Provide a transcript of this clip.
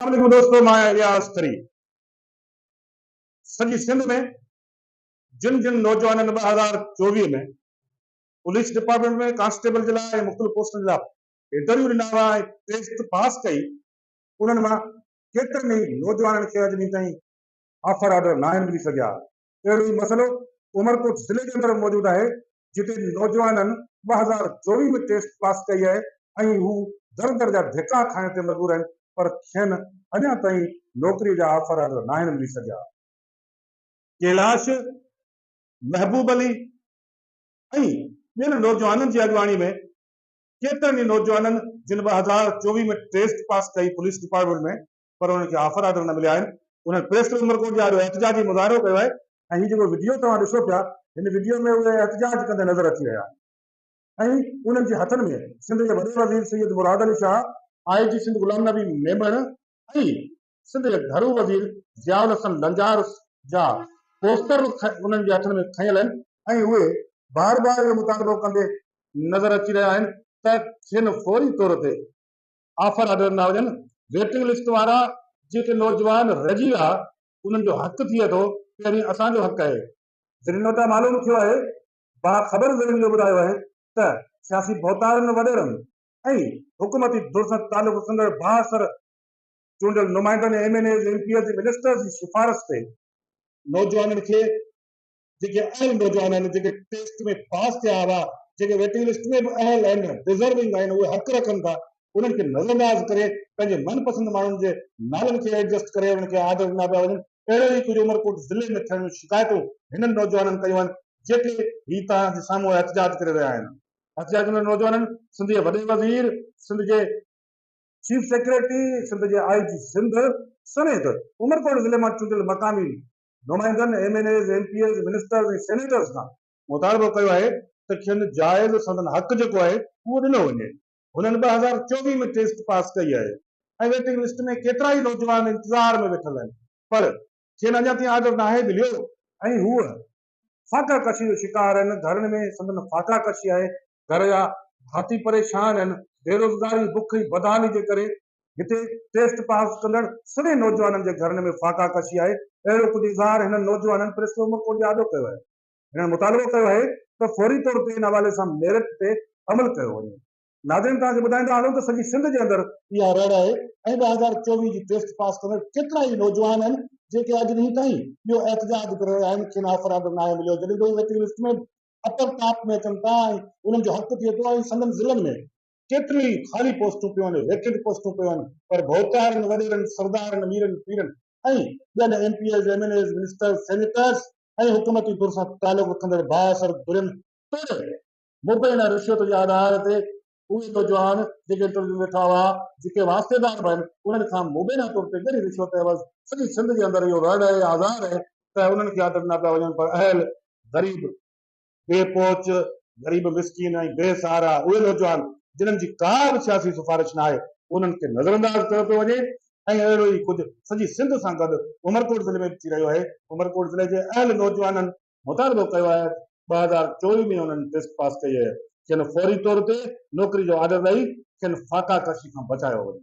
السلام عليڪم دوستو مان آهيان الياس ٿري سڄي سنڌ ۾ جن جن نوجوانن ٻه هزار چوويهه ۾ پوليس ڊپارٽمينٽ ۾ ڪانسٽيبل جي لاء ۽ مختلف پوسٽن جا انٽرويو ڏنا هئا ۽ ٽيسٽ پاس ڪئي انهن مان ڪيترن ئي نوجوانن کي اڄ ڏينهن تائين آفر آرڊر ناهن ملي سگهيا اهڙو ئي مسئلو عمرڪوٽ ضلعي جي اندر موجود آهي جتي نوجوانن ٻه هزار چوويهه ۾ ٽيسٽ پاس ڪئي آهي ۽ هو در در جا ڌڪا کائڻ تي مجبور آهن پر کين اڃا تائين نوڪري جا آفر ناهن ملي سگهيا. ڪيلاش، محبوب علي ۽ ٻين نوجوانن جي اڳواڻي ۾ ڪيترن ئي نوجوانن جن ٻه هزار چوويهه ۾ ٽيسٽ پاس ڪئي پوليس ڊپارٽمينٽ ۾ پر انهن کي آفر آرڊر نه مليا آهن، انهن پريس ڪلب عمرڪوٽ جي آڏو احتجاجي مظاهرو ڪيو آهي ۽ هي جيڪو وڊيو توهان ڏسو پيا هن وڊيو ۾ اهي احتجاج ڪندي نظر اچي رهيا آهن ۽ انهن جي هٿن ۾ سنڌ جي وڏي وزير سيد مراد علي شاهه، آء جي سنڌ غلام نبي ميمڻ ۽ سنڌ جي گهرو وزير ضياء الحسن لنجار جا پوسٽر انهن جي هٿن ۾ کنيل آهن ۽ اهي بار بار اهو مطالبو ڪندي نظر اچي رهيا آهن ته کين فوري طور تي آفر آرڊر نه هجن، ويٽنگ لسٽ وارا جيڪي نوجوان رهجي ويا انهن جو حق ٿئي ٿو پهرين اسان جو حق آهي. ذريعن وٽان معلوم ٿيو آهي، باخبر ذريعن اهو ٻڌايو آهي ته سياسي ڀوتارن وڏيرن ۽ حڪومتي ڌر سان تعلق رکندڙ بااثر چونڊيل نمائندن M N As, M P As ۽ ministers جي سفارش تي، نوجوانن کي جيڪي اهل نوجوان آهن جيڪي ٽيسٽ ۾ پاس ٿيا هئا جيڪي ويٽنگ لسٽ ۾ به اهل آهن ڊزرونگ آهن اهي حق رکن ٿا انهن کي نظر انداز ڪري پنهنجي من پسند ماڻهن جي نالن کي ايڊجسٽ ڪري انهن کي آرڊر ڏنا پيا وڃن اهڙو ئي ڪجهه عمرڪوٽ ضلعي ۾ ٿيڻ جون شڪايتون هنن نوجوانن ڪيون آهن جيڪي هي توهان جي سامهون احتجاج ڪري رهيا آهن احتجاج ڪندڙ نوجوانن سنڌ جي وڏي وزير سنڌ جي چيف سيڪريٽري سنڌ جي آء جي سنڌ سميت عمرڪوٽ ضلعي مان چونڊيل مقامي نمائندن، M N As, M P As, ministers ۽ senators کان مطالبو ڪيو آهي ته کين جائز سندن حق جيڪو آهي اهو ڏنو وڃي. هنن ٻه هزار چوويهه ۾ ٽيسٽ پاس ڪئي آهي ۽ ويٽنگ لسٽ ۾ ڪيترائي نوجوان انتظار ۾ ويٺل آهن پر کين اڃا تائين آرڊر ناهي مليو ۽ هو فاقا ڪشي جو شڪار آهن، گهرن ۾ سندن فاقا ڪشي آهي گهر جا ڀاتي پريشان آهن، بيروزگاري، بک ۽ بدحالي جي ڪري هتي ٽيسٽ پاس ڪندڙ سڀني نوجوانن جي گهرن ۾ فاقا ڪشي آهي، اهڙو ڪجهه اظهار هنن نوجوانن پريس ڪلب ڪوٽ جي آڏو ڪيو آهي. هنن مطالبو ڪيو آهي ته فوري طور تي ان حوالي سان ميرٽ تي عمل ڪيو وڃي. ناظرين توهان کي ٻڌائيندا هلون ته سڄي سنڌ جي اندر. اها رڙ آهي ۽ ٻه هزار چوويهه جي ٽيسٽ پاس ڪندڙ ڪيترا ئي نوجوان آهن جيڪي اڄ ڏينهن تائين اهو احتجاج ڪري رهيا آهن کين آفر آرڊر ناهي مليو جڏهن ته اهي ويٽنگ لسٽ ۾ اپر ڪاپ ۾ اچن ٿا ۽ انهن جو حق ٿئي ٿو ۽ سندن ضلعن ۾ ڪيتريون ئي خالي پوسٽون پيون آهن، ويڪنٽ پوسٽون پيون آهن پر ڀوتارن، وڏيرن، سردارن، ميرن، پيرن ۽ ٻين M P As, M N As, ministers, senators ۽ حڪومتي ڌر سان تعلق رکندڙ بااثر ڌرين توڙي مبينا رشوت جي آڌار تي اهي نوجوان جيڪي انٽرويو ۾ ويٺا هئا، جيڪي واسطيدار به آهن، انهن کان مبينا طور تي ڳري رشوت عيوض سڄي سنڌ جي اندر اهو رڙ ۽ آزار آهي ته انهن کي آرڊر ڏنا پيا وڃن پر اهل، غريب، بي پهچ، غريب مسڪين ۽ بي سهارا اهي نوجوان جنهن جي ڪا به سياسي سفارش ناهي انهن کي نظرانداز ڪيو پيو وڃي ۽ اهڙو ئي ڪجهه سڄي سنڌ سان گڏ عمرڪوٽ ضلعي ۾ به ٿي رهيو آهي، عمرڪوٽ ضلعي جي اهل نوجوانن مطالبو ڪيو آهي ته ٻه هزار چوويهه ۾ انهن ٽيسٽ پاس ڪئي آهي کين فوري طور تي نوڪري جو آرڊر ڏئي کين فاقا ڪشي کان بچايو وڃي.